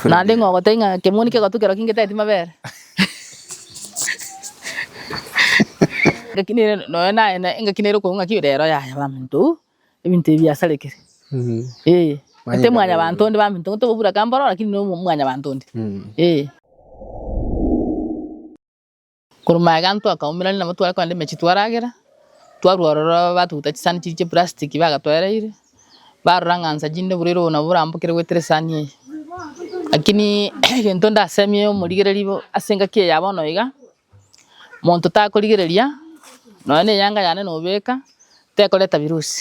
Naende ng'a ogotebia ng'a ekemoni kegotwa kerokio ngeteti mabere. Ngaki nere nonya naye na engaki nere okoigwa ng'aki rero yaya bamonto oo ebinto ebi biasarekire. Eeh. Gose mwanyabanto onde baminto nigo tokoburaka mboro lakini no mwanyabanto onde. Eeh. Korwa maega amo twakaumerania nabo tware kogenda emechie twaragera, twarwa ororo batogutera chisani chiria chia eprastiki bagatoereire, barora ng'a nsa chinde oborwaire obo nabo borambokire goetera esani eye. Lakini egento ndasemie omorigereria bo ase engaki eye ya bono iga, monto takorigereria nonya na eyanga yane nobeka, tekoreta virusi.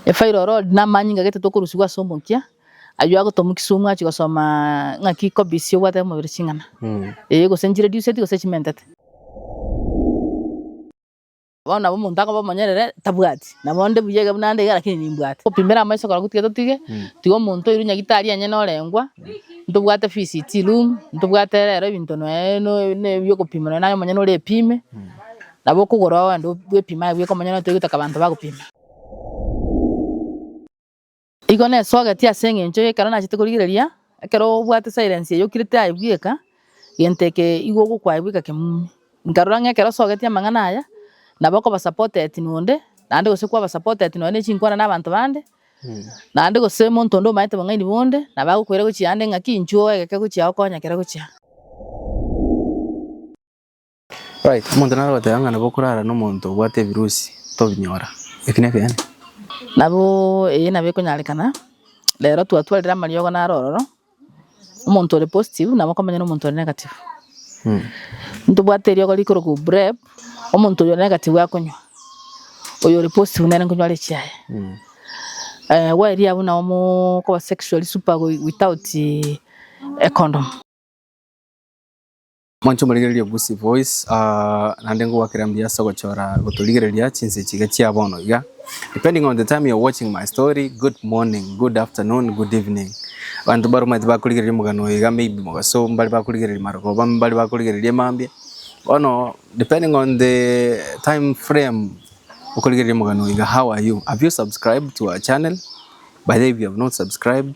Efa ere orori namanyinga gete tokorusigwa ase omokia, aywo agotoma kisumu achie gosoma ng'aki kobisia obwate omobere ching'ana. Ee gose nchireduceti gose chimentete. Bono nabo omonto akoba omonyerere tabwati, nabo onde buya iga buna ande iga lakini nimbwate. Topimere amaiso korokwo tiga totige, tiga omonto oirwe nyagitari onye norengwa, ntobwate fees chiroom, ntobwate rero ebinto noe no no ebiokopima noe naye omonyene ore epime, Nabo okogora oende bw'epima agwo ekomonyora notoe gotoka abanto bagopima. Igo nesogetie ase engencho y'ekero nachete korigereria, ekero obwate silence eye okirete aye bweka, gento eke igo ogokwa aye bweka kemumi. Nkarora ng'a ekero osogetie amang'ana aya, nabo okoba supported nonde, naende gose kwaba supported nonye ne chinkwana na abanto bande, naende gose omonto onde omanyete bong'aini bonde, nabo agokoira gochia ande ng'aki inchuo oegeke gochia okonya kere gochia. Omonto nare goteba ng'a nabo okorara nomonto obwate ebirusi, tobinyora. Eki nekeene. Nabo eye nabo ekonyarekana, rero twatwarire amariogo naro ororo, omonto ore positive nabo okomenya na omonto ore negative. Ntobwate eriogo rikorokwa PrEP, omonto oyo ore negative akonywa, oyo ore positive nere nkonywa are echiaye. Gwaeria abwo nabo mokoba sexually super without a condom. Mwanche omorigereria Gusii Voice, naende ngogwakera mbuya ase ogochora gotorigereria chinse echi iga chia bono iga. Depending on the time you're watching my story, good morning, good afternoon, good evening. Abanto baromanyete bakorigereria omogano oyo iga maybe mogaso, mbare bakorigereria marogoba, mbare bakorigereria mambia. Bono depending on the time frame okorigereria omogano oyo iga, how are you? Have you subscribed to our channel? By the way, if you have not subscribed,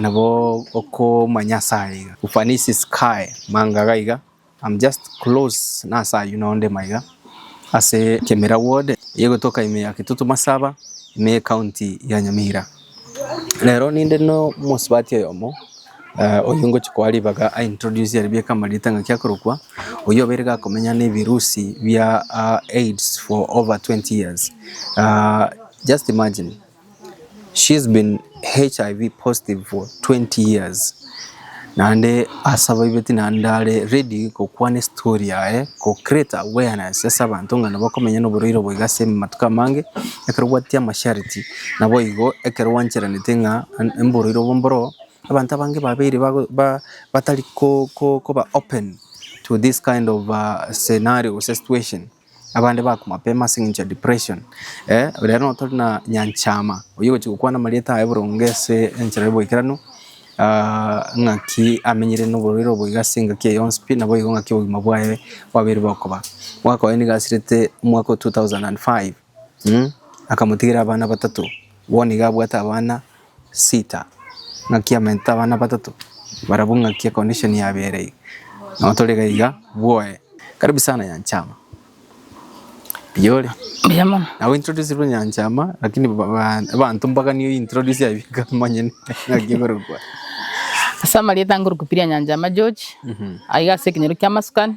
Nabo okomanya ase aya iga. Ufanisi sky manga gaiga I'm just close nase ayio no nde maiga ase Kemira ward eye gotoka ime ya Kitutu Masaba ime ye county ya Nyamira. Rero ninde no mosubati oyomo oyio ngochia koa ribaga a introduce aria bieka amarita ngaki akorokwa oyio obeire gakomenya ne virusi bia AIDS for over 20 years just imagine. She's been HIV positive for 20 years naende ase abaibeti naende ndare ready gokwana estory yaye go create awareness ase abanto ng'a nabo okomenya na oborwaire obo iga ase amatuko amange ekero obwati amasharti naboigo ekero gwancheranete ng'a oborwaire obo mboro abanto abange babeire batari koba open to this kind of scenario gose situation. Abande bakwa mapema ase eng'encho ya depression. Riria nonya tore na nyanchama oyio ogochia gokwana amarieta aye boronge ase enchera y'oboikeranu, ng'aki amenyire noborwaire obo iga ase engaki eye yonsi pi naboigo ng'aki obogima bwaye bwabeire bokoba. Omwaka oye nigo asirete omwaka o two thousand and five, akamotigera abana batato, bono iga abwate abana Sita, ng'aki amentete abana batato barabwo ng'aki e condition yabere iga nabo tore iga iga bwoye. Karibu sana Nyanchama. Mbuya ore? Mbuya mono. Nabo introducerwe Nyanchama lakini ba- ba- abanto mpaka niyo introduce aye bika manye ng'aki ekorokwa. Ase amarieta nkorukupiria Nyanchama George, aiga ase ekenyoro ki'amasukani.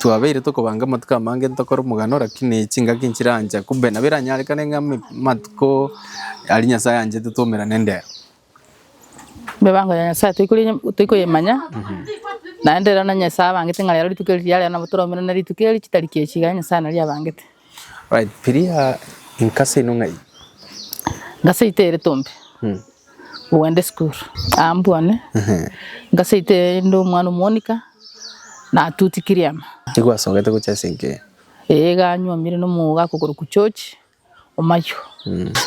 Twabeire tokobanga amatuko amange ntokore omogano, rakini chingaki nchirancha kube, nabo eranyarekane ng'a amatuko aria Nyasae anchete twomera nendeo. Emibango ya Nyasae toikoyemanya, naende ere onye Nyasae abangete ng'a rero rituko eri riareo, nabo toromera na rituko eri chitariki echi iga Nyasae nari abangete. Piria inkasa ino ng'ai? Nkasa ite ere tombe ogenda esukuru ambwane nkasa ite inde omwana omonika natuti kiriama. Nigo asogete gocha ase enke? Ee iga anywomire na omouga akokorokwa George Omayo.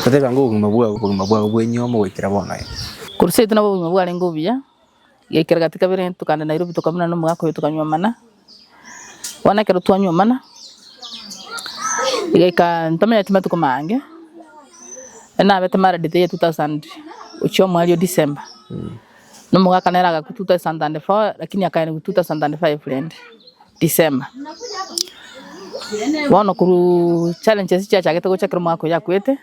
Oteba ng'a obogima bwao obogima bwao bwa enyomo goikera bono ee? Korwa seito nabo obogima bwarenge obuya Yaikire gati kabere tokagenda Nairobi tokabunana na omogaka oyo tokanywa amana, bono ekero twanywa amana, igaika ntamenyeti matuko mange, nabete married the year two thousand gochia omweri o December, na omogaka nere agakwa two thousand and four lakini akaenigwa two thousand and five rende. December. Bono korwa challenges chiachagete gocha ekero omwaka oyo akwete,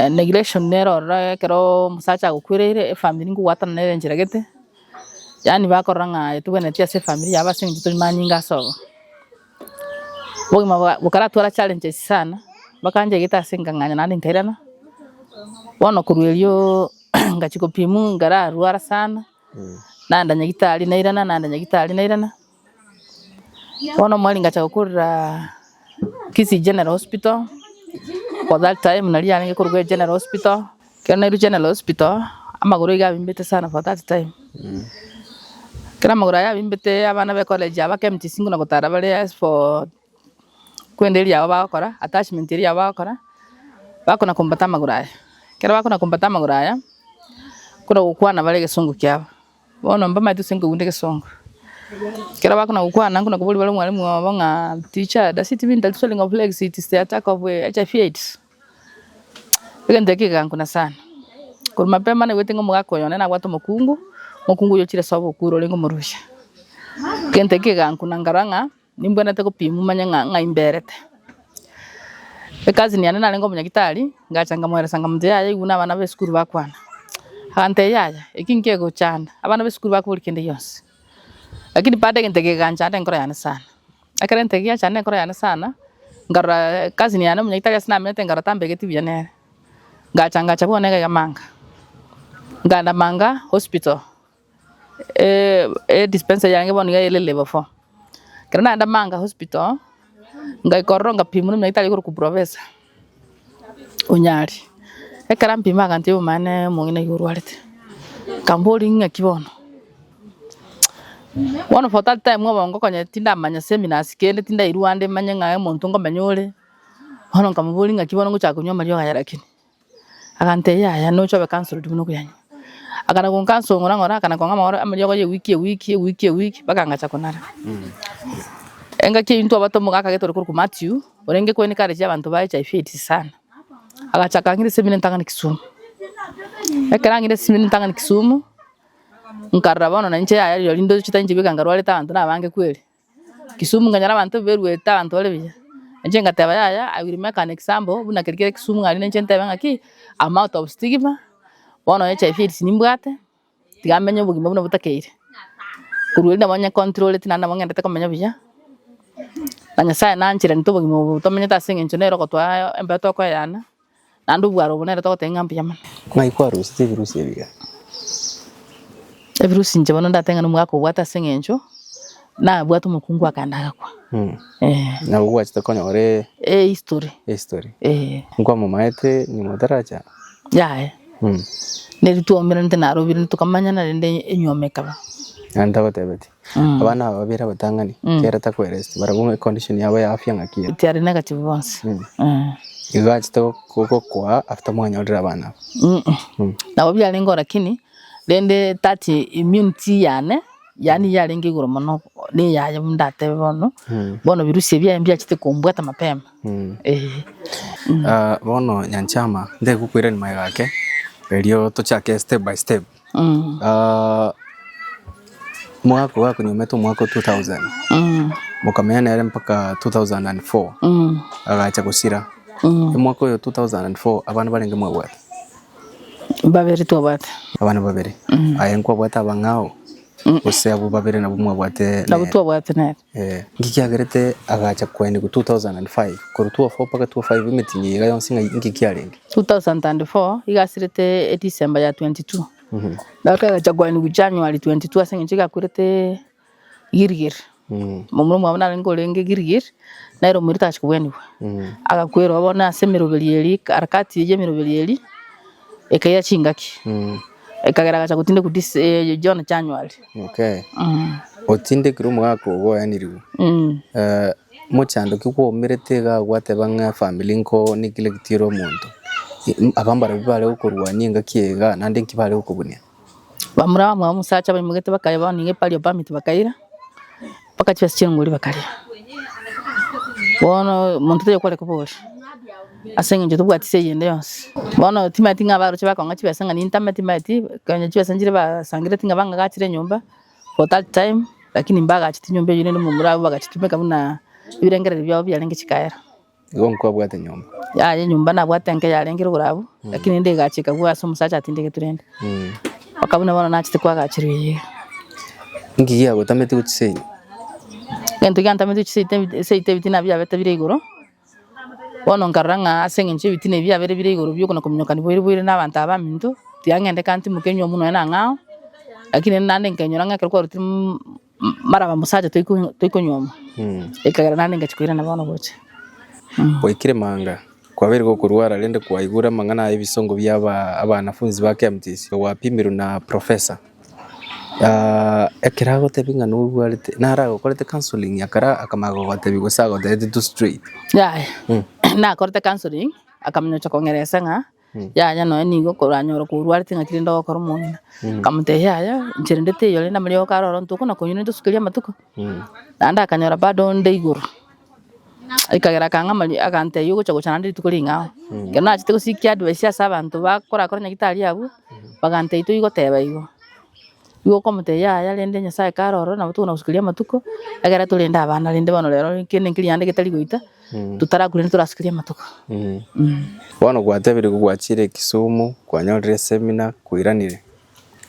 neglection nero ororo ekero omosacha agokwereire efamiri ngogwatana nere enchera gete, yaani bakorora ng'a etogwenereti ase efamiri yabo ase eng'encho tori manyinga ase obo. Obogima bokaratwara challenges sana, bakancha egete ase nkang'anya naende nkairana, bono korwa erio ngachia gopimwa nkararwara sana, Naenda nyagitari nairana naenda nyagitari nairana, bono omwari ngacha gokorera Kisii General Hospital, for that time naria yarenge korokwa General Hospital, ekero nairwe General Hospital amagoro iga abimbete sana for that time, ekero amagoro aye abimbete abana ba ecollege abake mchisi buna gotara bare as for. Kwenda eria yabo bagokora, attachment eria yabo bagokora, bakona kombata amagoro aya. Ekero bakona kombata amagoro aya, bakona gokwana bare egesongo kiabo. Bono mbamaete gose nkoigwa nde egesongo. Ekero bakona gokwana, nkona koboria bare omwalimu obo ng'a teacher does it mean that swelling of legs it is the attack of HIV AIDS? Egento ekio kegankuna sana. Korwa mapema naigwete ng'a omogaka oyo onde nabwate omokungu, omokungu oyo ochire soa obokure orenge omorusia. Egento ekio kegankuna nkarora ng'a. Nimbwenerete gopimwa manye ng'a ng'ai mberete. Ecousin yane narenge omonyagitari, ngacha nkamoeresa ng'a monto yaye aigure abana b'esukuru bakwana. Agantebia yaya, eki nkegochanda, abana b'esukuru bakobori kende gionsi. Lakini bado egento eke geganchanda enkoro yane sana. Ekero egento eke giachanda enkoro yane sana, nkarora cousin yane omonyagitari ase namenyete nkarora tambegeti buya nere. Ngacha ngacha bono egega manga, nkaenda manga hospital. Edispensa yange bono nigo ere level four, ekero nagenda Manga hospital, ngaika ororo ngapimwa emiaka etano ekorokwa Proffesor Onyari, ekero ampima agantebia omwana omong'ina nigo orwarete, nkamboria ing'aki bono, bono for that time obongo konya tindamanya seminars kende tindairwa ande manye ng'a omonto ngomenya ore, bono nkamoboria ing'aki bono ngochaka konywa amariogo aya lakini. Agantebia, Yaya, nocha obe cancelled buna okuyanywa. Akana goncancong'ora ng'ora, akana kong'a magoro amo riogo ria ewiki, ewiki, ewiki, ewiki, mpaka ngacha konara. Engaki eyio ntwabote omogaka getore korokwa Mathew, orenge kwene kare chia abanto ba HIV AIDS sana. Agachaka ang'ira esemina entang'ani Kisumu. Ekero ang'ira esemina entang'ani Kisumu, nkarora bono nainche yaya rirorio ndochete inche bwe iga nkarwarete abanto nabange kweri. Kisumu nkanyora abanto mberuete abanto bare buya, inche ngateba yaya I will make an example buna keri kere Kisumu aria na inche ntebe ng'aki I am out of stigma, bono onye HIV AIDS nimbwate, tiga menye obogima buna botakeire, korwa erio nabo onye controllete naende nabo ng'endete komenya buya, na Nyasae nanchirente obogima obo tomenyete ase eng'encho nere ogotwaa embayo tokoeana. Naende obware obo nere togoteba ng'a mbuya mono. Ng'ai kwarosete ebirusi ebiya? Ebirusi inche bono ndateba ng'a nomogaka obwate ase eng'encho nabwate omokungu akaenda agakwa. Eh. Nabo gwachete konyora e- Eh, history. ehistory. Eh. Nkwamomaete nyuma otaracha? Yaya. Mm. Neri twaumeranete narobirenete tokamanyana rende enyuoma ekaba. Naende tagotebetie? Abana aba babere abatang'ani, kera takoereti barabwo ng'a econdition yabo ya afya ng'aki ere. Tiari negative bonsi. Eh. Igo achete gokwa after mwanyorire abana aba. Mm. Nabo biarenge oo lakini, rende that immunity yane, yaani yarenge igoro mono ne eyaye buna ndatebe bono, bono virusi ebi biaye mbiachete kombwata mapema. Eh. Ah, bono nyanchama, nde gokwerania magega ake, erio tochake step by step. Mm. Ah, mwaka oyo akonyomete omwaka o 2000 Mm. mokamenya nere mpaka 2004 Mm. agacha gosira Mm. omwaka oyo 2004 abana barenge mwabwate Babere twabate. abana babere aye nkwabwate abang'ao gose abo babere nabo mwabwate Nabo nere. twabwate nere. Inki kiagerete agacha koenigwa 2005? Korwa 2004 mpaka 2005 emetinyi eye iga yonsi ng'ai? Inki kiarenge? 2004 igasirete December ya 22 gaka egacha koenigwa January 22 ase eng'encho gakwerete Gilgil. Momura omwabo narenge orenge Gilgil nere omoerio tagacha koenigwa agakwerwa bono ase emeroberi eria katikati ya emeroberi eria ekaira chingaki ekagera agacha gotindekwa January. Otindekire omogaka ogo oyanirigwe, mochandoki kwaumerete iga gwateba ng'a efamiri nko niki negete ere omonto. Aba mbarabwo bare gokorwania engaki eye igaa naende nki bare gokobunia? Bamura abamura b'omosacha baimoketie bakareba bono nigo epari ya permit bakaira. Bakachia ase chingori bakaria. Bono omonto tari okoreka obo ore, ase engencho tobwati ase eyende yonsi. Bono timaeti ng'a abarochi bakong'a chibesa ng'a nintame timaeti konya chibesa nchire basangereti ng'a bang'agachire enyomba for that time lakini mbagacheti nyomba eyio rende momura abwo bagachitumeka buna ebirengererio biabo biarenge chikaera. Igo nkwabwate nyomba. Yaya enyomba nabwate enke yarengire igoro abwo, lakini rende egachi ekagwa ase omosacha atindigeti rende. Mpaka buna bono nachete koagacherwa eyio. Inki giagotamete gochia seino? Egento giantamete gochia seita ebi- eseita ebitina biabete bire igoro, bono nkarora ng'a ase eng'encho ebitina ebi biabere bire igoro biokona kominyokani boire boire na abanto aba baminto, tiang'endeka ntimoke nywa omonwe nang'ao, lakini rende naende nkenyora ng'a ekero kwarutire mm. Mara abamosacha toiko- toikonyuoma, ekagera naende ngachia koirana bono gocha. Gwaikire manga, kwabeire gokorwara, rende kwaigure amang'ana ay'ebisongo bia aba- abanafunsi ba Keamtis, gwapimirwe na professor. Ah, ekero agotebia ng'a norwarete, naro agokorete counselling ya kare akamanya gogotebia gose agoteete tu straight. Yaya, nakorete counselling, akaminyocha kong'eresa ng'a. Yaya nonya nigo okoranyora korwarete ng'a tirende ogokora omong'ina. Nkamotebia yaya inche rende teiyo rende amariogo oko aroro intwe okwo nakonywa rende tosukerie amatuko. Naende akanyora bado onde igoro, ekagera akang'a amari agantebia ogocha gocha naende rituko ring'ao. Ekero nachete gosikia advice ase abanto bakorakora nyagetari abwo, bagantebia toigoteba igo. Nigo okomotebia, Yaya, rende Nyasae kare ororo, nabo tokona gosukeria amatuko, ekero torende abana, rende bono rero enkio ne enkirianda getari goita, totarakure rende torasukerie amatuko. Bono gwatebirie ko gwachire Kisumu kwanyorire esemina koiranire,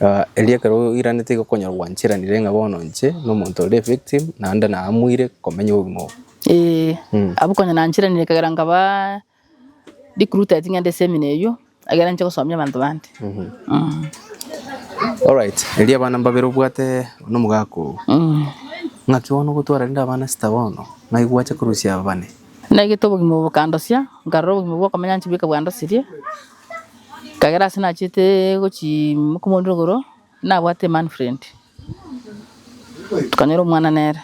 ah, erio ekero oiranete igo okonyora gwanchiranire ng'a bono inche na omonto ore evictim naende naamweire komenya obogima obo. Ee, abwo konya nanchiranire ekagera nkabaa. Ndikuruta ching'ende chi'emenwa eyio, ekiagera ninche gosomia abanto bande. Alright, erio abana mbabere obwate n'omogaka oo. Ng'aki bono ogotwara rende abana sita bono, ng'ai gwacha korusia aba bane? Naigete obogima obo bokandosia, nkarora obogima bw'okomenya nchibweka bwandosirie, ekiagera ase nachete gochia ime komoondora igoro. Nabwate Manfred tukanyora omwana nere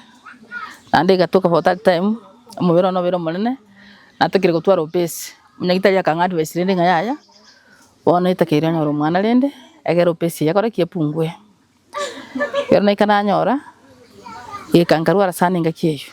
naende egatoka for that time omobere one nobere omonene natakeire gotwara obese onya tari akang'a advice rende ng'a yaya bono etakeire onyore omwana rende egere obese eye ekore ki epungue ekero naika nanyora eka nkarwara sana engaki eyio.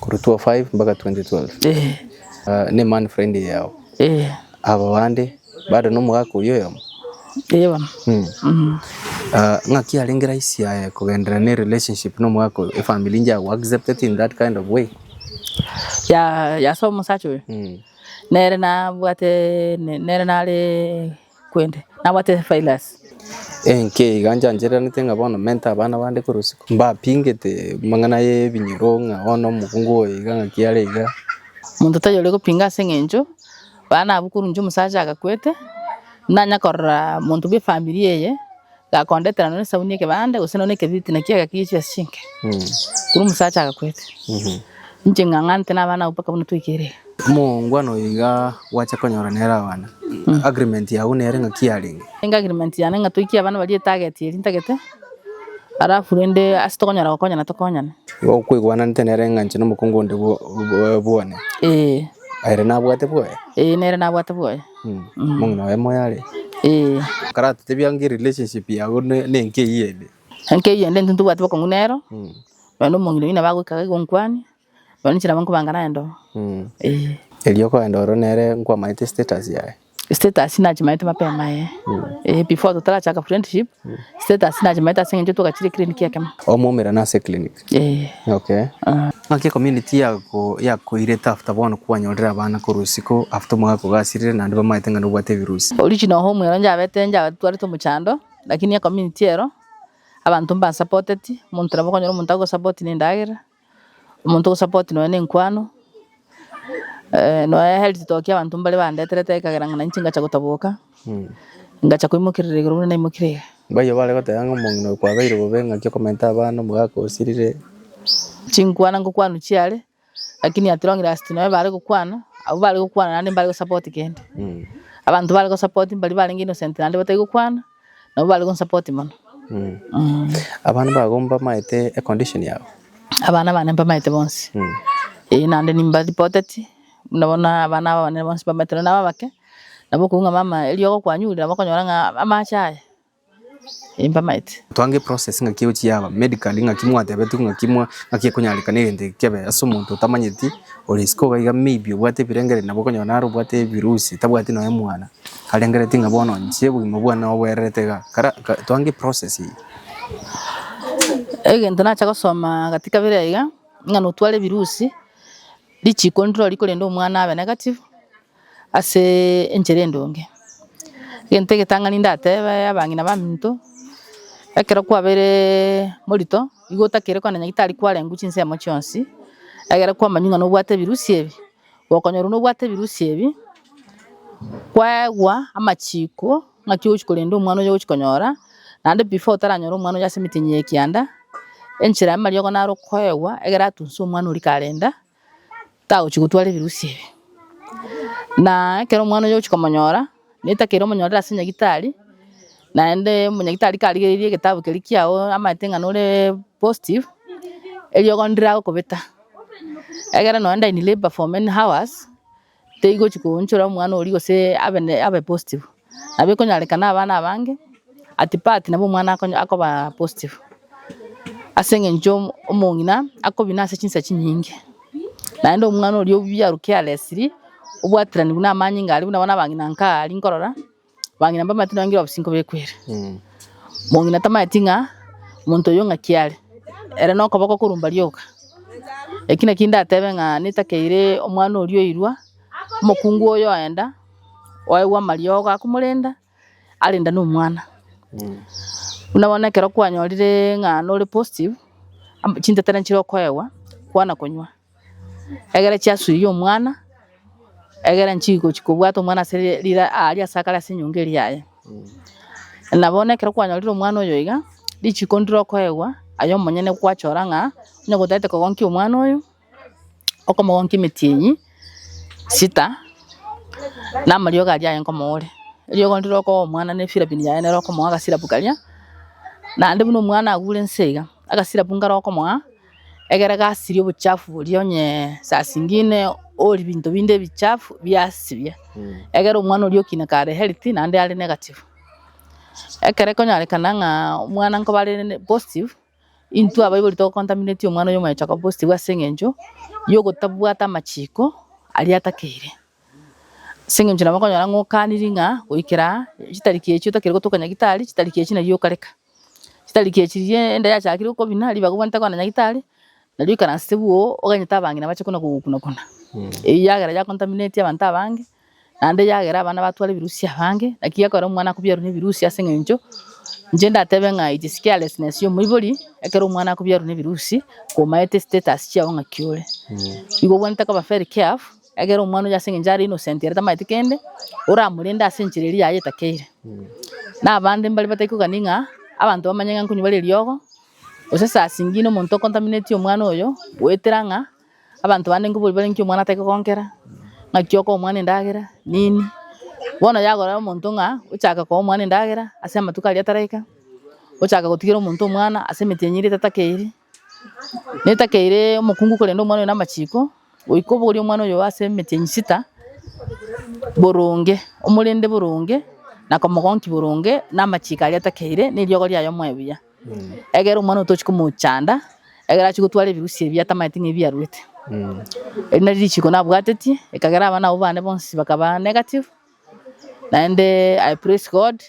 Korwa 2005 mpaka 2012 ne man friend yao aba bande bado nomogaka oyio oyomo ng'aki yarenge rahisi aye kogenderera ne relationship nomogaka oyo efamily inche yago accepted in that kind of way? Yaa ase omosacha oyo nere nabwate nere nare kwende, nabwate Theophilus. Enki iga nchanchereranete ng'a bono mente abana bande korwa isiko, mbapingete amang'ana y'ebinyoro, ng'a one omokungu oyo iga, ng'aki are iga. Omonto tari ore gopinga ase engencho baana abwo korwa inche omosacha agakwete, nanya korora monto bw'efamiri eye, Gakondetera nonya esabuni y'ekebande, gose nonya ekebiriti nakio egakigia chiasu chinke. Korwa omosacha agakwete, inche ng'ang'anete nabana abwo mpaka buna twaikire iga. Omongwana oyo iga gwacha konyora nere abana, agreement yago nere ng'aki yarenge? Enge agreement yane ng'a toikie abana baria etarget eria ntagete, alafu rende ase tokonyara gokonyana tokonyane. Igo kwaigwananete nere ng'a inche na omokungu onde bwo- bwo- bwane? Ee, Ere nabwate bwoye? ee nere nabwate bwoye. Enkeyio ende intwe ntobwati bokong'u nero, nonye na omong'ina oyio nabo agoika gaiga onkwane, nonye na chilambe nkobanga naye ndo. Erio okogenda ororo nere nkwamaete status yaye? Status nachimanyete mapema eh, before totarachaka friendship. Status nachimanyete ase eng'encho twagachire eclinic ekemo. Omwaumera na ase eclinic? Eeh. Okay. Naki ecommunity yakoirete after bono kwanyorire abana korwa isiko after omwaka kogasirire naende bamaete ng'a nobwate ebirusi? Origin oho omwero njabete njatwarete omochando lakini ecommunity ero abanto mbansapoteti omonto nabo okonyora omonto agosapotin'endagera Omonto ogosupport nonya ne enkwano, nonya health tokia abanto mbare bandeterete ekagera ng'a nainche ngacha gotaboka, ngacha koimokerera igoro buna naimokire iga. Mbaye bare goteba ng'a omong'ina oyo kwabeire bobe ng'aki okomenta abana omogaka osirire. Chinkwana ngokwanwa chiare, lakini at long last nonya bare gokwana, abwo bare gokwana naende mbare gosupport kende. Abanto bare gosupport mbaria barenge innocent naende batari gokwana. nabo bare gonsupport mono. Mm. Abana bago mbamaete econdition yao. Abana bane mbamaete bonsi. Mm. Eh, naende nimbaripoteti, buna bono abana aba banene bonsi mbamaete nonya naba abake, nabo okoigwa ng'a mama eriogo kwanyure nabo okonyora ng'a amache aya, eh, mbamaete. Twange eprocess ng'aki egochia yaba, medically ng'aki mwatebetwe ng'aki mwa ng'aki ekonyarekana egento eke kebe ase omonto otamanyeti, ore isiko iga iga maybe obwate ebirengereri nabo okonyora nare obwate ebirusi tabwati nonya omwana. Arengeretie ng'a bono inche obogima bwane naboboererete iga. Kara twange process eye. Egento nacha gosoma gati kabere iga iga ng'a notware ebirusi richiko ndiro rikorenda omwana abe negative ase enchera endonge. Egento egetang'ani ndatebe abang'ina baminto ekero kwabeire morito igo otakire kogenda nyagetari kwarengwa chinsemo chionsi egere kwamanywa ng'a nobwate ebirusi ebi. Gokonyorwa nobwate ebirusi ebi, kwaegwa amachiko ng'aki ogochia korenda omwana oyio ogochia konyora, naende before otaranyore omwana oyio ase emetenyi ya ekianda, enchera y'amariogo naro okoegwa egere atunse omwana oria karenda, tagochia gotwara ebirusi ebi. Na ekero omwana oyio ogochia komonyora. Netakeire omonyorere ase nyagitari, naende omonyagitari karigereiri egetabu keria kiao amaete ng'a nore positive, eriogo ndire agokobeta, egere nonye ndire in labour for many hours, teigochi koonchora omwana oria gose abe ne abe positive. Nabo ekonyarekana abana abange, at part nabo omwana akonya akoba positive. Ase eng'encho omong'ina akobina ase chinsa chinyinge, naende omwana oria obuya aruke are esiri, obwatiranigwe na amanyinga aria buna bono abang'ina nka aya aria nkorora, abang'ina mbamaete nonya ngira obosio nkobekwere. Mong'ina tamaeti ng'a omonto oyo ng'aki are, ere na okoboko korumba rioka. Eki naki ndatebe ng'a netakeire omwana oria oirwa, omokungu oyo oenda, oegwa amariogo akomorenda. arenda nomwana buna bono ekero kwanyorire ng'a nore positive am- chintetera nchire okoegwa kwana konywa egere chiasuiye omwana egere nchigochi kobwata omwana ase ri- rira aria ase akare ase enyongo eria yaye na bono ekero kwanyorire omwana oyo iga richiko ndire okoegwa aye omonyene gwachora ng'a onye gotagete kogonkia omwana oyo. okomogonkia emeti eyi sita, na amariogo aria aye nkomoore, eriogo ndire okoa omwana ne efirabini yaye nere okomoa agasirabu karia, naende buna omwana agure inse iga, agasirabu nkare okomoa, egere gasirie obochafu boria onye saa zingine orie binto binde ebichafu biasirie, egere omwana oria okina kare are healthy naende are negative. Ekero ekonyorekana ng'a omwana nkoba are positive. Intwe abaibori togokontamineti omwana oyo omonyene Jakobo bositibu ase engencho yogotabwata amachiko aria atakeire, ase engencho nabo okonyora ng'a okaniri ng'a goikera chitariki echio otakeri gotoka Nyagetari, chitariki echio nario okareka. Chitariki echi riria enda yachakire okobina, ribaga obwenerete kogenda Nyagetari, nario oikaransete bwoo, oganyete abang'ina bache buna kogokuna kuna. Eyio yagera yakontamineti abanto abange, Naende yagera abana batware ebirusi abange, naki gekogera omwana akobiarwe nebirusi ase eng'encho inche ndatebe ng'a it is carelessness ya omoibori ekero omwana akobiarwa nebirusi komaete status chiago ng'aki ore. Igo obwenerete koba very careful egere omwana oyio ase eng'encho are innocent ere tamaeti kende, oramorende ase enchera eria yaye etakeire. Na abande mbare batari kogania ng'a abanto bamanye ng'a nkonywa bare eriogo, gose saa zingine omonto okontaminetie omwana oyo goetera ng'a. Abanto bande nigo bori bare ng'aki omwana atagete gonkera, ng'aki okoa omwana endagera, nini. Bono yagora omonto ng'a ochake koa omwana endagera ase amatuko aria ataraika, ochaka gotigera omonto omwana ase emetienyi eria etatakeiri, netakeire omokungu korenda omwana oyo namachiko, goika obogorie omwana oyo ase emetienyi sita boronge, omorende boronge, na komogonki boronge, namachiko aria atakeire, neriogo riaye omoe buya. Egera omwana oyo tochi komochanda, egera achie gotwara ebirusia ebi atamaete ng'a ebiaruete. Eri nari richiko nabwatetie, ekagera abana abwo bane bonsi bakaba negative, naende I praise God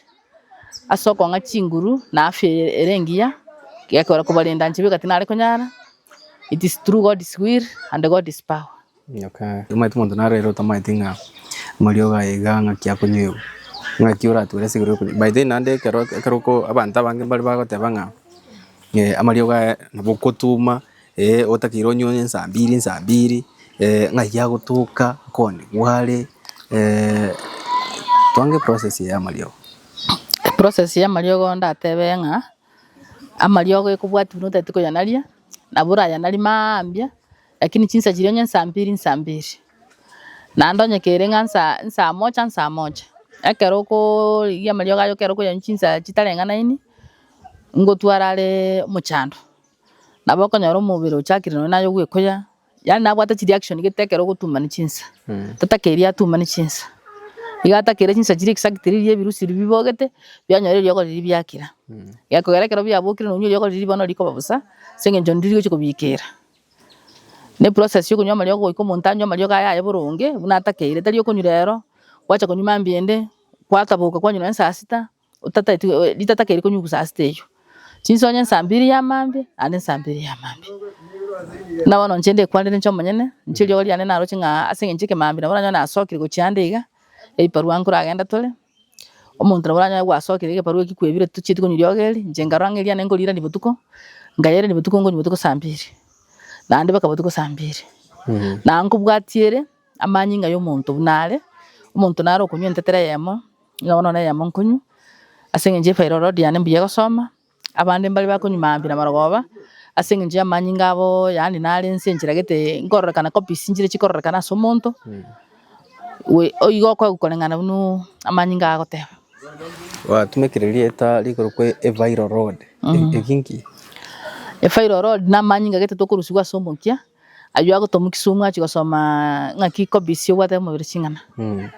ase okong'a chinguru na afya ere engiya, gekogera kobarenda inche bweka tinare konyara, it is through God's will and God's power. Timoete monto naro ere otamaete ng'a amariogo aye iga ng'aki akonywegwa, ng'aki orature ase igoro y'okonywa. By the way naende ekero ekero oko abanto abange mbare bagoteba ng'a amariogo aya nabo okotuma eh, otakeire onywe onye saa mbiri saa mbiri ng'ai agotoka akoone gware twange eprocess eye y'amariogo. Eprocess y'amariogo ndatebe ng'a, amariogo ekobwati buna otagete koyanaria, nabo orayanarie mambia. Lakini chinsa chiria onye nsa mbiri nsa mbiri, naende onye kere ng'a nsa nsa mocha nsa mocha. Ekero okorigia amariogo aya ekero okoyanywa chinsa chitareng'anaini, ngotwara are omochando, nabo okonyora omobere ochakire nonye naye ogoekuya, yaani nabwate chireaction gete ekero ogotumani chinsa, tatakeria atumani chinsa, iga atakire chinsa chiria exactly riria ebirusi ebi bibogete, bianyora eriogo riria biakira, gekogera ekero biabokire nonye eriogo riria bono rikoba bosa, ase eng'encho niriria rigochia kobikera. Ne process ya okonywa amariogo goika omonto anywe amariogo aye aye boronge buna atakeire tari okonywa rero gwacha konywa mambia ende gwataboka kwanywa nonye saa sita otataeti rita takeire konywa saa sita eywo chinsa onywe saa mbiri ya mambia naende saa mbiri ya mambia buna bono inche ndekwanire inche omonyene inche eriogo riane naroche ng'a ase eng'encho ekemambia nabo oranyore nasokire gochia ande iga ebibarua nkoragenda tore Omonto nabo oranyare goasoa keria egebarua ekio kwebire tochieti konywa riogo eri, inche nkarora ng'a eriane nkorirania botuko, nkayerirania botuko nkonywa botuko saa mbiri, naende mpaka botuko saa mbiri. Na nkobwatia ere, amanyinga ya omonto buna are, omonto naro okonywa entetera eyemo, nigo bono eyemo nkonywa, ase eng'encho efairi ororo riane mbuya egosoma. Abande mbare bakonyuma aambi namarogoba ase engencho y'amanyinga abo, yaani nare ense enchera gete nkororekana copies nchire chikororekana ase omonto, we oigo okoegwa koreng'ana buna amanyinga agoteba. Gwatumekire erieta rikorokwa evairo road, eki nki? Efairo road namanyinga gete tokorusigwa ase omokia. Ayio agotwa mokisumu achie gosoma ng'aki kobisi obwate omobere ching'ana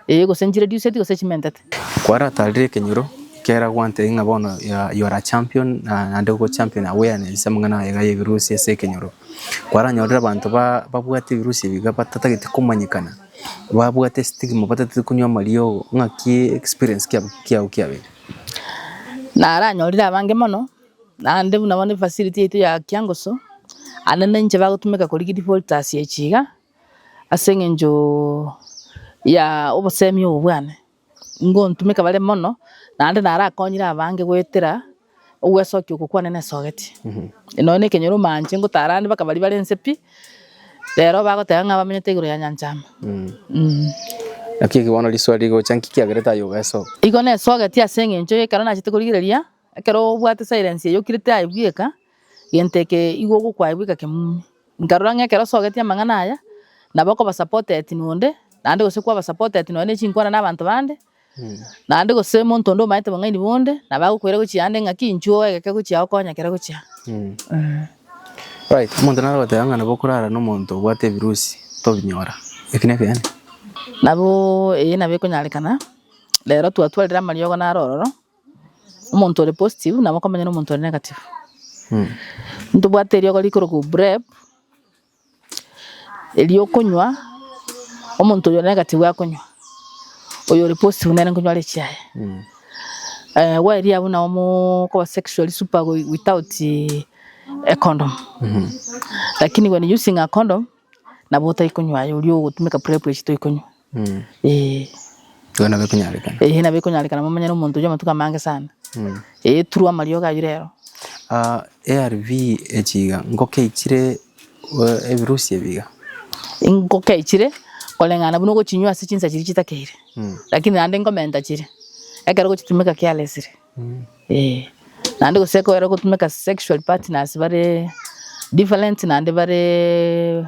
ee gose nchireduceti gose chimentete. Kwaratarire ekenyoro ekero gwantebirie ng'a bono you are a champion naende ogo champion awareness amang'ana aye iga y'ebirusi ase ekenyoro. Kwaranyorire abanto babwate ebirusi ebi iga batatagete komanyekana, babwate estigma batatete konywa amariogo, ng'aki experience kiago kiabeire? Naranyorire abange mono. Naende buna bono efacility yaito ya kiangoso, ande nainche bagotumeka korigia divoltas echi iga, ase eng'enchoo ya obosemi obo bwane, ngontumeka bare mono, naende narakonyire abange goetera ogwesokia oko kwane nesogeti. Nonya na ekenyoro omanche ngotara ande baka baria bare inse pi, rero bagoteba ng'a abamenyete igoro ya nyancha ime mmh. Naki eki bono riswali rigocha, nki kiagerete aye obesoke? Igo nesogeti ase eng'encho y'ekero nachete korigereria Ekero obwate silence eyo kire tiraebweka, gento eke igo ogokwaebweka kemumi. Nkarora ng'a ekero osogetie amang'ana aya, nabo okoba supported nonde, naende gose kwaba supported nonye ne chinkwana na abanto bande, naende gose omonto onde omanyete bong'aini bonde, nabo agokoira gochia ande ng'a ki inchuo oegeke gochia ago okonye ekero ogochia ago. Right, omonto naro ogoteba ng'a nabo okorara na omonto obwate ebirusi tobinyora, eki nekeene? Nabo eye nabo ekonyarekana, rero twatwarire amariogo naro ororo. omonto ore positive nabo okomanya na omonto ore negative. Ntobwate eriogo rikorokwa PrEP, erio okonywa, omonto oyo ore negative akonywa, oyo ore positive nere nkonywa rich aye. Eh, gwaeria abwo nabo mokoba sexually super without a condom. Lakini when using a condom. nabo otaikonywa aye oria ogotumeka prep echi toikonywa eeh. Igo nabo ekonyarekana. Eeh nabo ekonyarekana momanyere omonto oyio amatuko amange sana eeh through amariogo ayio rero. ARV echi iga ngoki eichire ebirusi ebi iga? Ngoki eichire koreng'ana buna ogochinywa ase chinsa chiria chitakeire lakini naende nkomenta chire ekero ogochitumeka carelessly. Ee, naende gose ekobera ogotumeka sexual partners bare different naende bare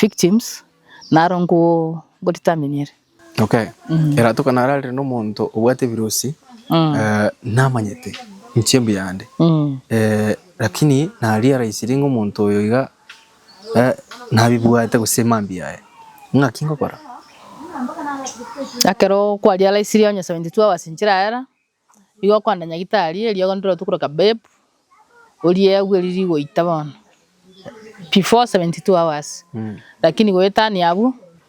victims, naro nko- nkodetermine ere. Okay. Eratoka nararire nomonto obwate ebirosi Mm. eh, namanyete inche mbuyande Mm. eh, lakini naria raisiri ng'a omonto oyo iga nabibwate gose mambia aye, ng'aki ngokora? Ekero kwariaraisirie onye seventy two hours nchire aera, nigo okoenda nyagitari, eriogo ndire otuko rwa kabeb, orie agwe riria rigoita bono, before seventy two hours, lakini goetania abwo,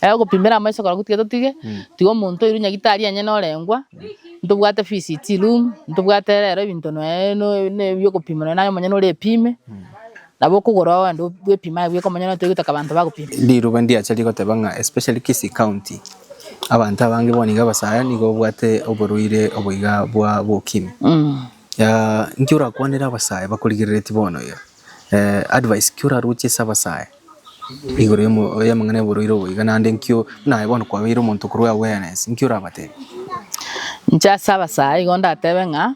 Aye ogopimera amaiso korwa gotiga totige, tiga omonto oirwe nyagetari onye norengwa, ntobwate visit room, ntobwate rero ebinto noe noe ne biokopima nonya naye omonyene ore epime, nabo okogora oo ande bwepime aye bweka omonyene otari gotaka abanto bagopima. Riruba ndiacha rigoteba ng'a especially Kisii county, abanto abange bono iga abasaya nigo babwate oborwaire obo iga bwa bwa ukimwi. Inki orakwanere abasaya bakorigereretie bono iga? Advice ki oraruche ase abasae igoro y'amang'ana y'oborwaire obo iga naende nkio buna aye bono kwabeire omonto okorua awareness nki orabatebie? Inche ase abasae igo ndatebe ng'a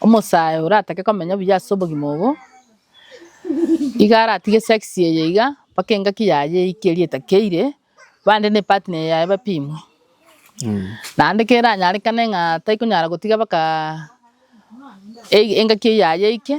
omosae oratake komenya buya ase obogima obo iga aratige sex eye iga mpaka engaki yaye eike eria etakeire bande ne partner yaye bapimwe naende keranyarekane ng'a tarikonyara gotiga mpaka engaki yaye eike.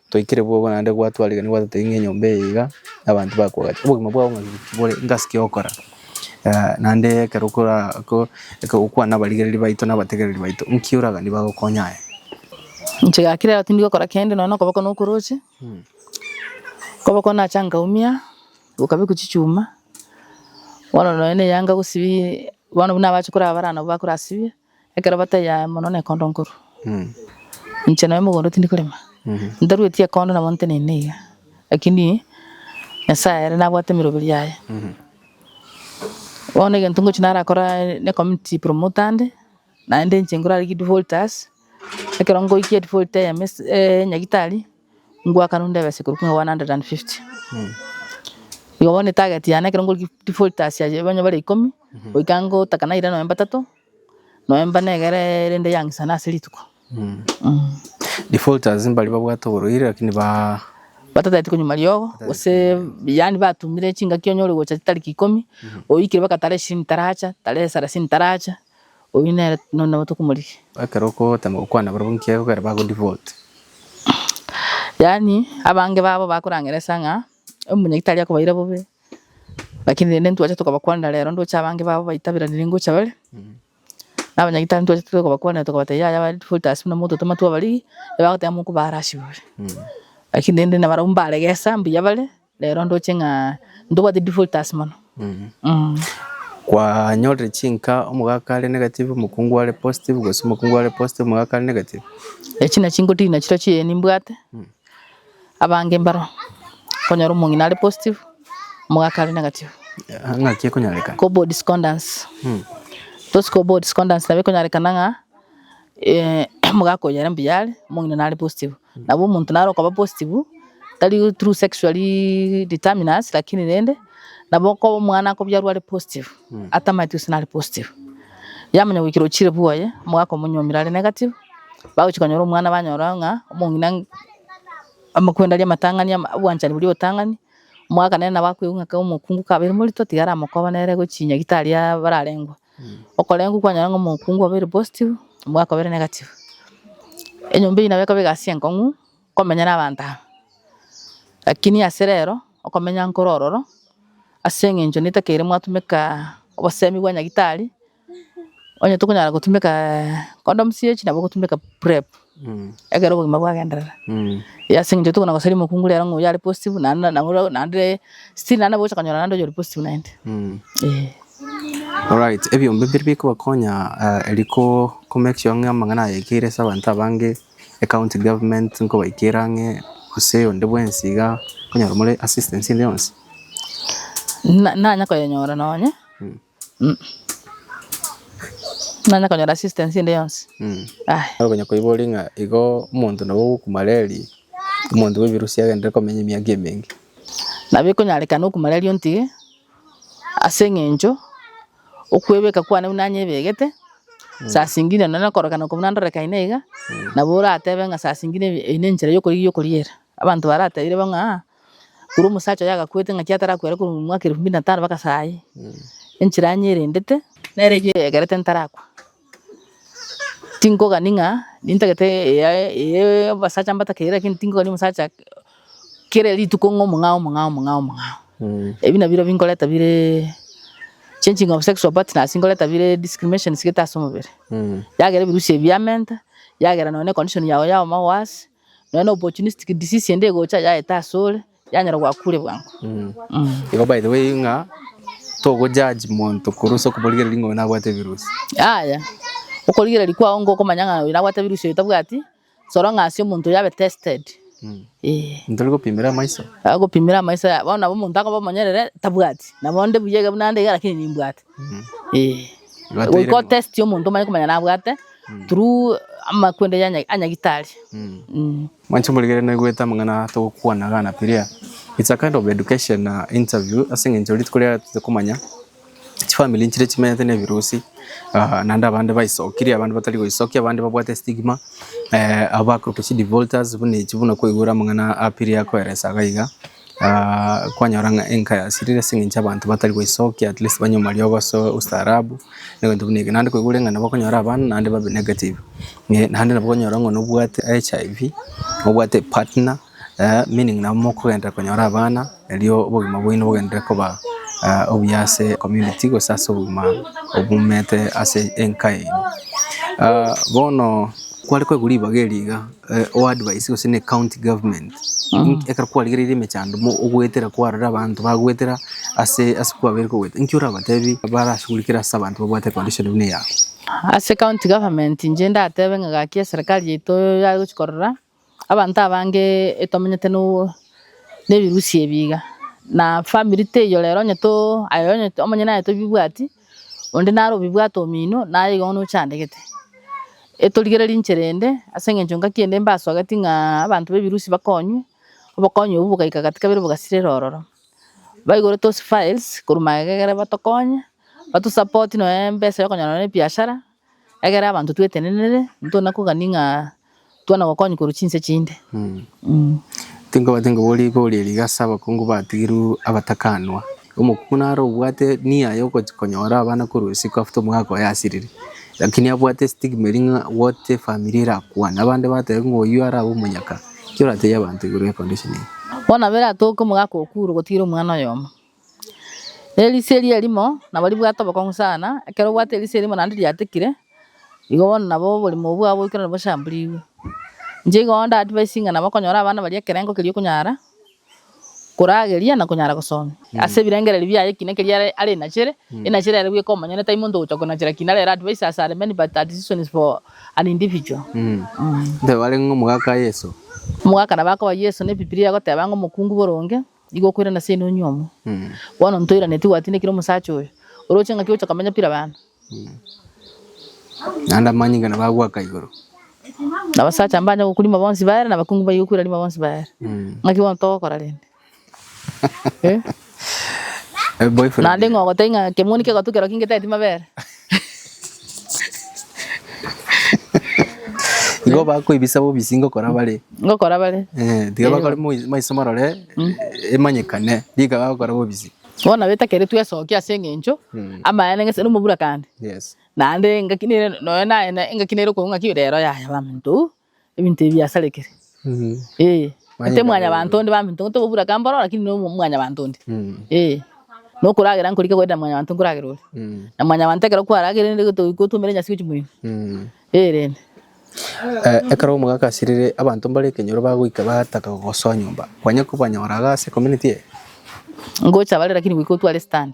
Twaikire bobo naende gwatwarigeria gwatetebia ng'a enyomba eye iga abanto bakogacha. Obogima bwao ng'a ki bore, ng'asi ki ogokora. Eh, naende ekero okora ko eke gokwana abarigereri baito na abategereri baito, nki oraganie bagokonye aye? Inche gaki rero tindi gokora kende nonya na okoboko nokoroche, okoboko nacha nkaumia, gokabekwa chichuma, bono nonya na eyanga gosibie, bono buna abache korabara nabo bakorasibie. Ekero bataiyo aye mono nekondo nkorwa, inche nonya mogondo tindi korema, ntarueti ekondo nabo nteneine iga, lakini Nyasaye ere nabwate emeroberi yaye. Bono egento ngochi narakore ne community promoter nde, naende inche ngorarigie defaulters, ekero ngoikia edefault ya Mrs. Nyagitari. ngwaka rende abasekuru kina 150 igo bono etageti yane ekero ngorigia defaulters ayio onye bare ikomi goika ngotaka naira nonya batato nonya mbane egere rende yang'isana ase rituko Defaulters mbari babwate oborwaire lakini ba batateti konywa riogo gose yaani batumire chingaki onye ore gocha chitariki ikomi oikire baga tarehe ishirini taracha tarehe sarasini taracha. Oyio nere nonya nabo tokomorigia. Ekero okotema gokwana barabwo nki egokera bago devote. Yaani abange babo bakorangeresa ng'a omonyiki tari akobaira bobe lakini rende ntwache tokabakwanera rero ndoche abange babo baitaberanire ngocha bare na abanyagitari ntwache tokabakwanera tokabatebia yaya bare devote ase buna mogototema twabarigi ebagoteba mokobara ase igoro lakini rende nabarabwo mbaregesa mbuya bare Rero ndoche ng'a ntobwate defaulters mono. Kwanyorire chinka omogaka are negative, omokungu are positive, gose omokungu are positive, omogaka are negative? Echi nachio ngotiiri nachio tochio ee nimbwate. Abange mbaro okonyora omong'ina are positive, omogaka are negative. Ng'aki ekonyorekana? Cobal discordance. Those cobal discordance nabo ekonyorekana ng'a omogaka oyo are mbuya are, omong'ina nare positive. Nabo omonto nare okoba positive, tari through sexually determiners lakini rende nabo okoba omwana akobiarwa are positive, atamanyeti gose nare positive. Yamanya goikera ochire bwoye, omogaka omonyomire are negative, bagochia konyora omwana banyora ng'a omong'ina amo kwenda aria amatang'ani ama obwanchani boria obotang'ani, omogaka nere nabo akoigwa ng'a kaba omokungu kabeire morito, tiga aramokobere gochia nyagitari aa bararengwe. okorengwa kwanyora ng'a omokungu obeire positive, omogaka obeire negative. Enyomba eyio nabo ekoba egasi enkong'u komenya na abanto aba. Lakini ase rero okomenya nkoro ororo ase eng'encho netakeire mwatumeka obosemi bwa nyagitari, onye tokonyara gotumeka condoms echi nabo ogotumeka prep. Ekero obogima bwagenderera, eyi ase eng'encho tokona gosaria omokungu rero ng'a oyio are positive naende nabo rero naende still naende nabo ogocha konyora naende oyio ore positive naende eh. Alright, ebiombe mbiri bikobakonya eri ko make sure ng'a amang'ana ayekeire ase abanto abange, ecounty government nkobaikera ang'e gose onde bwensi iga konyora more assistance ende yonsi? Na nanya koyenyora nonye. Nonye konyora assistance ende yonsi. Aye. Nabo okonya koiboria ng'a igo omonto nabo ogokumareri, omonto bw'ebirusia agenderere komenya emiaka emenge. Nabo ekonyarekana okumareri ontige, ase eng'encho okwebeka kwane buna nyebegete, saa zingine nonye okorokana okobuna ndorekaine iga, nabo oratebe ng'a saa zingine eyio nenchera yokorigia okoriera. Abanto baratebirie bo ng'a. Korwa omosacha oyo agakwete ng'aki atarakwera korwa omwaka erifu mbiri na tano mpaka sayi, enchera anyerendete, nere eyio eegerete ntarakwa, tinkogani ng'a nintagete eye eye y'obasacha mbatakeirie lakini tinkogani omosacha kera rituko ng'a omong'ao omong'ao omong'ao omong'ao. Ebi nabirobio nkoreta bire changing of sexual partners nkoreta bire discriminations gete ase omobere, yagera ebirusia ebi yamenta, yagera nonye na econdition yago ya obogima bwa ase. Nonya na opportunistic disease ende egocha yaeta asore, yanyora gwakure bwango. Igo by the way ng'a togo judge monto korwa ase okoborigereria ng'a oyo nabwate ebirusi. Yaya, okorigereria kwao nigo okomanya ng'a oyo nabwate ebirusi oyo tabwati, soro ng'a ase omonto oyo abe tested. Eeh. Monto ore gopimera amaiso. Agopimera amaiso, bono nabo omonto akoba omonyerere tabwati, nabo onde buya iga buna nde iga lakini nimbwate. Goika o test omonto omanye komanya nabwate through amakwende ya nyagitari. Mwanche morigererie naigwete amang'ana togokwana gana piria. It's a kind of education na interview ase eng'encho rituko riarero toche komanya chifamiri nchire chimenyete na ebirusi naende abande baisokirie abande batari goisokia abande babwate estigma abakorokire chidevolters buna echi buna kwaigure amang'ana a piria akoeresa iga iga. kwanyora ng'a enka yasirire ase eng'encho abanto batari goisokia at least banywe amariogo ase ustaarabu, na ebinto buna ebio. Naende kwaigure ng'a nabo okonyora abana naende babe negative, naende nabo okonyora ng'a nobwate HIV, nobwate epartner, meaning nabo mokogenda konyora abana, erio obogima bwaino bogenderere koba obuya ase ecommunity gose ase obogima obumete ase enka yaino. Bono kware kwaigwa ribaga eri iga. eh, o advice gose ne county government Inki- ekero kwarigereire emechando mo ogoetera kwarora abanto bagoetera ase ase kwabeire kogoeta inki orabatebi barashugurikere ase abanto babwate condition buna eyao ase county government inche ndatebe ng'a gaki eserikari yaito yare gochi korora abanto abange etwamenyete no nebirusi ebi iga na family teiyo rero onye to aye onye omonyene aye tobibwati. Onde naro obibwate omino, naye igo bono ochandegete. Etorigererie inchera ende, ase eng'encho engaki ende mbaswageti ng'a abanto b'ebirusi bakonywe, obokonyi obwo bogaika gati kabere bogasirera ororo. Baigure tosifiles korwa magegere batokonye, batusapotie nonya nembesa ya okonyora nonya nebiashara. Ekero abanto twetenenire, ntona kogania ng'a twana gokonywa korwa chinse chinde. Tinkobati ngabo rigoria rigase abakungu batigirwe abatakanwa. Omokungu naro obwate nia yogochia konyora abana korwa isiko after omwaka oye asirire, lakini abwate estigma eria ng'a what if family erakwane, abande batebe ng'a oyio arabe omonyaka. Ki oratebie abanto igoro ye condition eye? Bono nabo eratoke omogaka okuure gotigira omwana oyomo. Erisia eria erimo nabo ribwate obokong'u sana, ekero obwate erisia erimo naende riatekire, igo bono nabo oborimo obwo bwabo boikeranu bochamburigwe. Inche igo onde advice ng'a nabo okonyora abana baria ekerengo keria okonyara korageria na konyara gosomia ase ebirengererio biaye ekina keria are are enachere, enachere ere bweka omonyene tari monto ogocha konachera ekina arere advice as are many but are decisions for an individual. Ntebe arenge omogaka Yeso. Omogaka nabo akoba Yeso na ebibilia egoteba ng'a omokungu boronge. Nigo okoirana seino onyiomwe. Bono ntoiranetie gwatindekire omosacha oyo. Oroche ng'aki ogocha komenya pira abanto. Naende amanyinga nabo agoaka igoro. Nabasacha mbanya gokurimwa bonsi baere, nabakungu mbaye gokwirarimwa bonsi baere. Ng'aki bono togokora rende? Naende ng'ogotebi ng'a kemoni kegotu kerokio ngeteti mabere. Igo bakoibisa bobisi ngokora bare. Ngokora bare. Eh, tiga bakore maiso marore mm. emanyekane rika bagokora bobisi. Bona beta kere twesokia ase engencho mm. amayene ngese nomobura kande. Yes. Nande ngaki nere noyo naye ngaki nere konga ki rero yaya bamuntu. Ebinto ebi biasarekire. Ee, gose mwanyabanto onde bambe intwe tobobura aka mboro lakini no mwanyabanto onde. Ee, na okoragera nkorike goetera mwanyabanto nkoragera ore. Na mwanyabanto ekero kwaragire rende goto- gotoumera enyasi gochia moino. Ee rende. Ekero omogakasirire abanto mbare ekenyoro bagoika bataka gogosoa nyomba, kwanya kobanyora iga ase community eye? Ngocha bare lakini goika otware stand.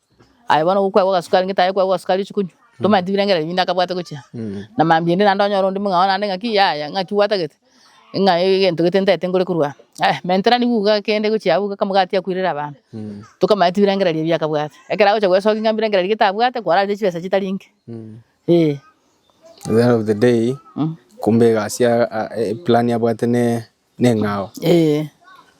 Aye bono gokwegwa ogasukari ngete aye okwegwa ogasukari ochi konywa. Tomanya tibirenge rari binde akabwate gochia. Na mambia ende naende onyore onde mong'ao naende ng'aki yaya ng'aki gwatagete. Ng'a egento gete ntaete nkore korwa aa. Aya mentera nigo iga kende gochia abwo iga kamo gatiga koirera abana. Tokamanya tibirenge rari ebi akabwate. Ekero agocha gwesokia ng'a mbirenge rari gete abwate kwararete chibesa chitari nke. Eeh. At the end of the day kumbe egasi ya aa eplan abwate ne. neng'ao. Ee.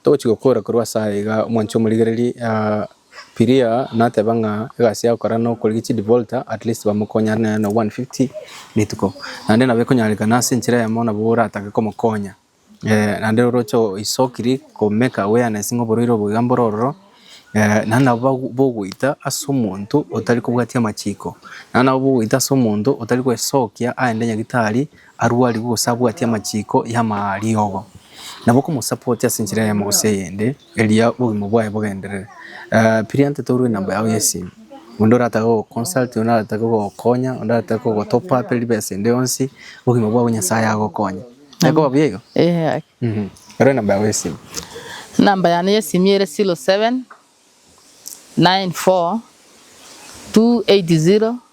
Togochia gokora korwa ase aya iga omwanchi omorigereri ah, Piria nateba ng'a egasi agokora na okorigia chidi volta at least bamokonye are naye na 150 rituko. Naende nabo ekonyarekana ase enchera eyemo nabo oratake komokonya eh, naende oroche oisokiri ko make awareness ng'a oborwaire obo iga mbore ororo eh, naende nabo bago- bogoita ase omonto otari kobwatia amachiko. Naende nabo bogoita ase omonto otari koesokia aende nyagitari Arwarigwe gose abwati amachiiko y'amariogo, nabo okomosapoti ase enchera eyemo gose eyende, erio obogima bwaye bogenderere. Birianto torue enamba yao y'esimu. Onde oratake gogoconsult, onde aratake gogokonya, onde aratake gogo top up ribesa ende yonsi, obogima bwabo Nyasaye agokonye. Tekoba buya igo? Ee gaki. Mhm. Rora enamba yao y'esimu. Enamba yane y'esimu ere 07 94 280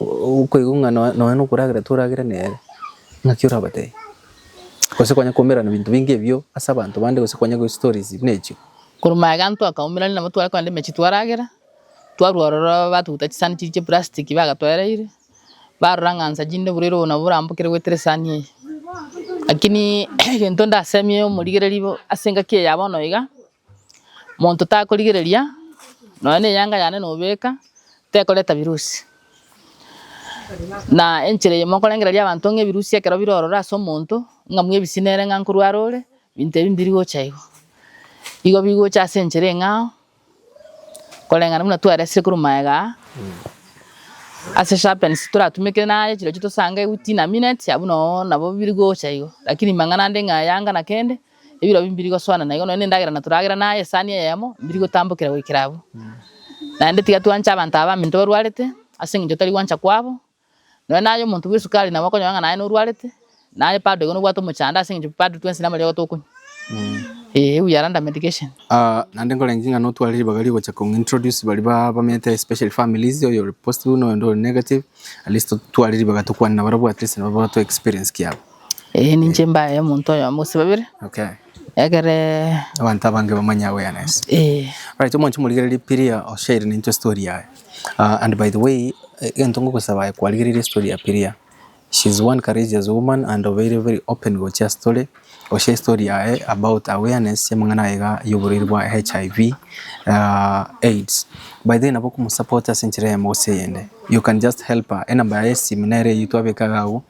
okoigwa ng'a nonya nokoragera toragera nere, ng'aki orabatebi? Gose kwanya kwaumerana binto binge ebio ase abanto bande gose kwanya gochi stories buna echio. Korwa magega ntwe akaumerania nabo tware kogenda emechie twaragera, twarwa ororo batuguta chisani chiria chia plastic bagatoereire, barora ng'a nsa chinde burere obo nabo orambokere goetera esani eye. Lakini egento ndasemie omorigereri bo ase engaki eye ya bono iga, Monto takorigereria nonya ne eyanga yane nobeka tekoreta virusi. Na enchera eye mokorengereria abanto ng'a evirusi ekero bire ororo ase omonto ng'a mwa ebisi nere ng'a nkorware ore binto ebi mbiri gocha igo. Igo bigocha ase enchera eng'ao koreng'ana buna twaresire korwa maega aa ase sharpens toratumeke naye chirochio tosange within a minute abwo noo nabo biri gocha igo. Lakini mang'ana ande ng'a eyanga na kende. Ebiro ebi mbiri gosoana naigo nonya nendagera na toragera naye esani eyemo mbiri gotambokera goikera abwo. Naende tiga twanche abanto aba baminto barwarete, ase engencho tari gwancha kwabo. Nonya naye omonto bwe esukari nabo okonyora ng'a naye norwarete, naye bado igo nobwate omochando ase engencho bado twensi namariogo tokonywa. Ee ebuya randa medication. Ah, naende nkorengereria ng'a notware ribaga rigocha kong'introduce baria ba- bamenyete especially families, oyo ore positive buna oyonde ore negative, at least totware ribaga tokwane nabarabwo at least nabo batwe experience kiabo. Ee, ninche mbaye omonto oyomo gose babere, Okay. ekere Abanto abange bamanye awareness. ee, Alright, omonche morigererie Piria oshaire nintwe story yaye. Uh, and by the way, egento ngogosaba aye kwarigereire story ya Piria. She's one courageous woman and obeire very open gochia story, gochia story yaye about awareness y'amang'ana aye iga y'oborwaire bwa HIV, uh, AIDS. By the way, nabo okomosupport ase enchera eyemo gose eyende. You can just help her. Enamba yaye y'esimo nere eyio twabeka iga abwo.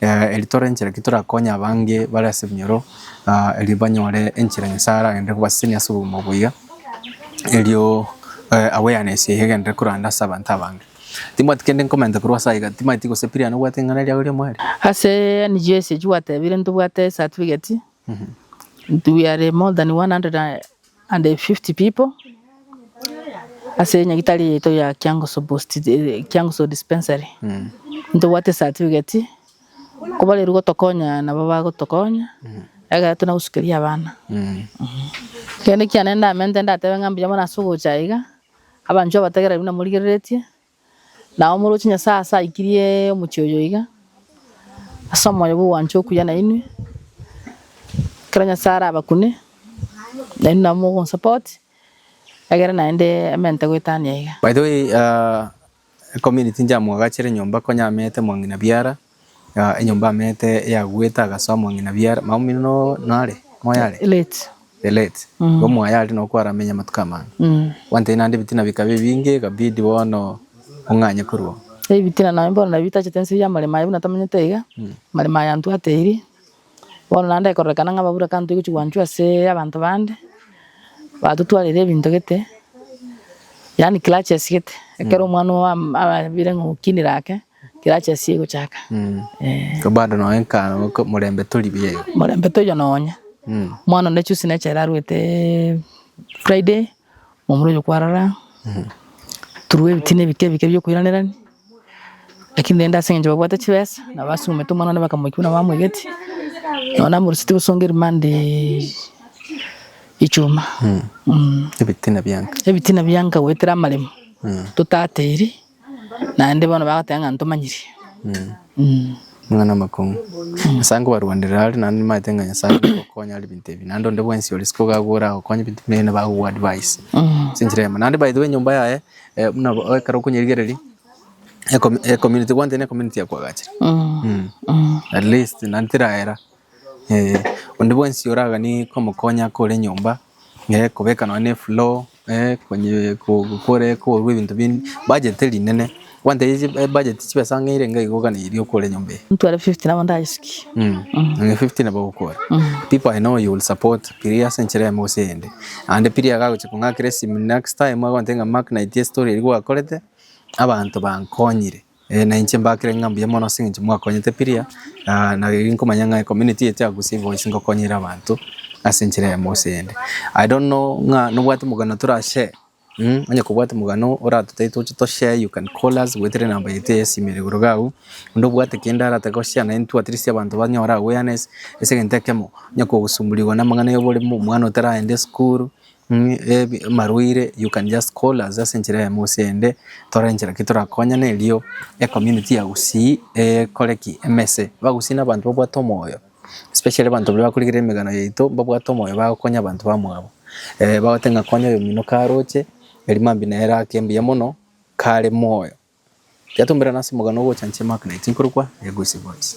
Erio tore enchera ki torakonye abange bare ase ebinyoro, erio banyore enchera Nyasae aragende kobasesenia ase obogima boiga, erio awareness yaye egenderere koranda ase abanto abange. Timbwati kende nkomenta korwa ase aiga, timaeti gose Brian obwate ring'ana riago ria omweri? Ase NGS echio gwatebire ntobwate certificate, we are more than 100 and. And the fifty people ase enyagitari yaito ya Kiangoso post Kiangoso dispensary ntobwate certificate kobarerwa gotokonya nabo bagotokonya ekero tuna gosukeria abana kende kiane ndamente ndatebe ng'a mbuya bono ase ogocha iga abanchwa bategereri buna morigereretie. Na omorochi Nyasae ase aikirie omochie oyo iga, ase omoyo bw'ogwancha okuya nainwe, ekero Nyasae arabakune, nainwe nabo mogomosupport, egere naende amentete goetania iga. By the way, aa, ecommunity njamoagachere nyomba konya amete mong'ina biara. Enyomba y'Amete eyagwete agase omong'ina biara, mama omino no nare? Moyo are? Late. The late. Igo omoyo aria nokwo aramenye amatuko amange. Kwantete naende ebitina bikaba ebinge ekabidi bono ong'anye korwa oo. Ebitina nabio bono nabio bitachete ense eyi y'amaremo aye buna tomenyete iga, amaremo aye antwateiri. Bono naende ekororekana ng'a ababura kanto egochi gwanchwa ase abanto bande, batotwarire ebinto gete, yaani clutches gete, ekero omwana oam abire ng'a okinire ake. Tirachesie gochaka. Ee. Ko bado nonya nka ko morembe tori buya igo. Morembe toiyo nonya. Omwana onde chusi neche ere arwete Friday, momura oyo kwarara, turue ebitina ebike ebike bia okoiranerania, lakini rende ase eng'encho babwate chibesa, nabo basumete omwana one bakamoikia buna bamoigetie, nabo namorusetie gosonga erimande echuma. Ebitina bia nka. Ebitina bia nka goetera amaremo, totateiri. Naende bono bagoteba ng'a ntomanyiri. Omwana amakong'u. Nyasae nkobarwanderera are naende nimanyete ng'a Nyasae nkogokonya are binto ebi. Naende onde bwensi ore isiko iga agwo oragokonye binto buna ebi nabo agogoa advice ase enchera eyemo. Naende by the way enyomba yaye buna ekero okonyerigereria ecom ecommunity kwantete ne ecommunity ya kwagachire at least naende terahera onde bwensi oragani komokonya akore enyomba kobeka nonye ne efloor. Gokora ekorwa ebinto binde budget rinene kwantebie ebudget chibesa ng'a ere iga igo gana eria okore nyomba eye. Intwe are 50 nabo ndayesuki. Muna 50 nabo ogokora. People I know you will support pirie ase enchera eyemo gose eyende. Naende pirie agagochia kong'akera esimi next time agontebia ng'a Mark naetie estory eria gwakorete abanto bankonyire. Ee na inche mbakire ng'a mbuya mono ase eng'encho mwakonyete piria, na na riria nkomanya ng'a ecommunity ya Tiagus boys ngokonyera abanto ase enchera eyemo gose eyende. I don't know ng'a nobwate omogano tora share mh, onye kobwate omogano oratotebie toche to share you can call us goetera enamba yaito ya esimo ere igoro iga agwo, onde obwate kende aratake go share na intwe at least abanto banyore awareness ase egento ekemo, onye kogosumburigwa na amang'ana ya oborimo, omwana otaraende esukuru, Amarwaire you can just call us ase enchera ya Mose ende tore enchera ki torakonyane erio e community ya Gusii ekore ki? Emese. Abagusii na abanto babwate omoyo especially abanto baria bakorigia emegano yaito mbabwate omoyo bagokonya abanto bamwabo. Bagote ng'a konya oyomino karoche erio mambia nere ake mbuya mono kare moyo. Iga tomerane ase omogano ogocha inche Mark Naiti nkorokwa Egusii Voice.